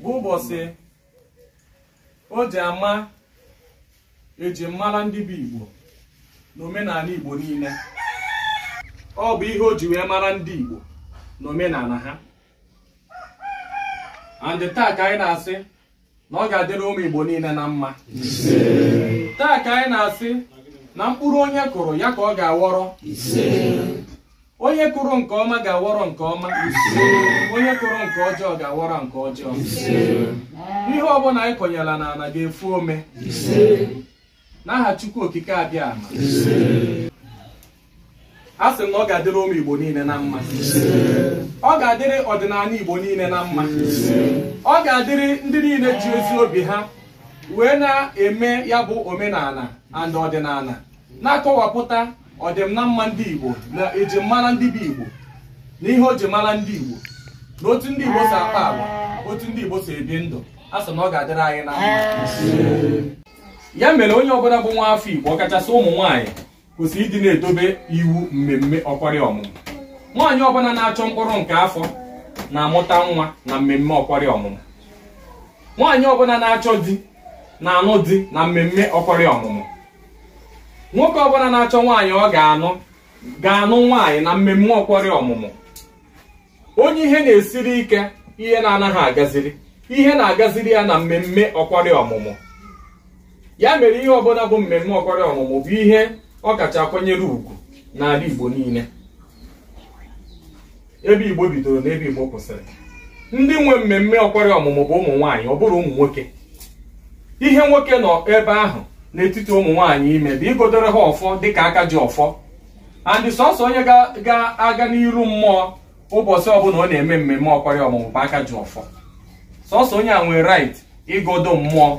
bụ ụbọchị o ji ama eji mara ndị bụ Igbo na omenala Igbo niile ọ bụ ihe o ji wee mara ndị Igbo na omenala ha and taa ka anyị na-asị na ọ ga-adịrị ụmụ Igbo niile na mma taa ka anyị na-asị na mkpụrụ onye kụrụ ya ka ọ ga-aghọrọ onye kụrụ nke ọma ga-aghọrọ nke ọma onye kụrụ nke ọjọọ ga-aghọrọ nke ọjọọ ihe ọbụla anyị kụnyela n'ala ga-efu ome n'aha Chukwu Okike Abịama a sị na ọ ga-adịrị ụmụ Igbo niile na mma ọ ga-adịrị ọdịnala Igbo niile na mma ọ ga-adịrị ndị niile ji ezi obi ha wee na-eme ya bụ omenala and ọdịnala na-akọwapụta ọdịm na mma ndị Igbo na eji mara ndị bụ Igbo na ihe o ji mara ndị Igbo na otu ndị Igbo si akpa agwa otu ndị Igbo si ebi ndụ a sị na ọ ga-adịrị anyị na mma ya mere onye ọbụla bụ nwa afọ Igbo ọkachasị ụmụ nwaanyị kwesịrị ịdị na-edobe iwu mmemme ọkwari ọmụmụ nwaanyị ọbụla na-achọ mkpụrụ nke afọ na-amụta nwa na mmemme ọkwari ọmụmụ nwaanyị ọbụla na-achọ di na-anụ di na mmemme ọkwari ọmụmụ nwoke ọbụla na-achọ nwaanyị ọ ga-anụ nwaanyị na mmemme ọkwari ọmụmụ onye ihe na-esiri ike ihe na-anaghị agaziri ihe na-agaziri ya na mmemme ọkwari ọmụmụ ya mere ihe ọbụla bụ mmemme ọkwari ọmụmụ bụ ihe ọ kacha akwanyere ugwu n'ala Igbo niile ebe Igbo bidoro na ebe Igbo kwụsịrị ndị nwe mmemme ọkwari ọmụmụ bụ ụmụ nwaanyị ọ bụrọ ụmụ nwoke ihe nwoke nọ ebe ahụ n'etiti ụmụ nwaanyị ime bụ ịgọdoro ha ọfọ dịka aka ji ọfọ and sọsọ onye ga-aga n'iru mmụọ ụbọchị ọbụla ọ na-eme mmemme ọkwari ọmụmụ bụ aka ji ọfọ sọsọ onye a nwere right ịgọdo mmụọ